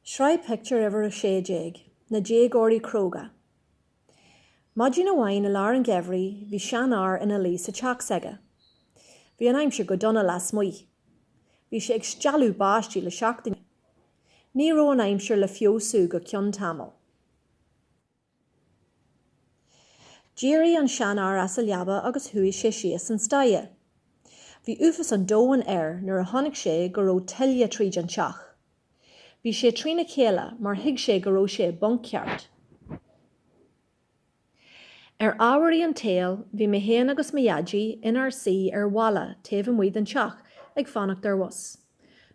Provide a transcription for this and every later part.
Sraith pictiúr uimhir a sé déag, Na Déagóirí Cróga. Maidin amháin i lár an gheimhridh bhí seanfhear ina luí sa teach s'aige. Bhí an aimsir go dona lasmuigh. Bhí sé ag stealladh báistí le seachtain. Ní raibh an aimsir le feabhsú go ceann tamaill. D'éirigh an seanfhear as a leaba agus chuaigh sé síos an staighre. Bhí uafas an domhain air nuair a chonaic sé go raibh tuile tríd an teach. Bhí sé trína chéile mar thuig sé go raibh sé i bponc ceart. Ar ámharaí an tsaoil, bhí mé féin agus mo Dhaidí inár suí ar bhalla taobh amuigh den teach ag fanacht ar bhus.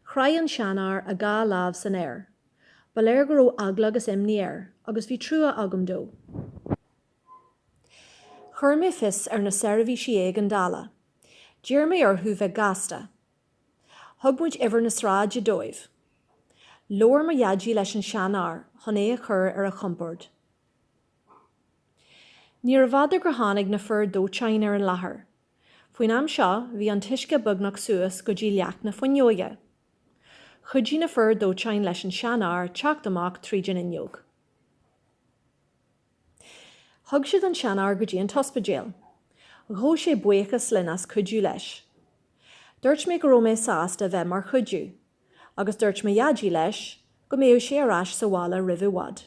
Chroith an seanfhear a dhá lámh san aer. Ba léir go raibh eagla agus imní air, agus bhí trua agam dó. Chuir mé fios ar na seirbhísí éigeandála. D'iarr mé orthu bheith gasta. Thug muid uimhir na sráide dóibh. Labhair mo dhaidí leis an seanfhear chun é a chur ar a chompord. Níorbh fhada gur tháinig na fir dóiteáin ar an láthair. Faoin am seo bhí an t-uisce beagnach suas go dtí leac na fuinneoige. Chuidigh na fir dóiteáin leis an seanfhear teacht amach tríd an fhuinneog. Thug siad an seanfhear go dtí an t-ospidéal. Ghabh sé buíochas linn as cuidiú leis. Dúirt mé go raibh mé sásta bheith mar chuidiú, agus dúirt mo Dhaidí leis go mbeadh sé ar ais sa bhaile roimh i bhfad.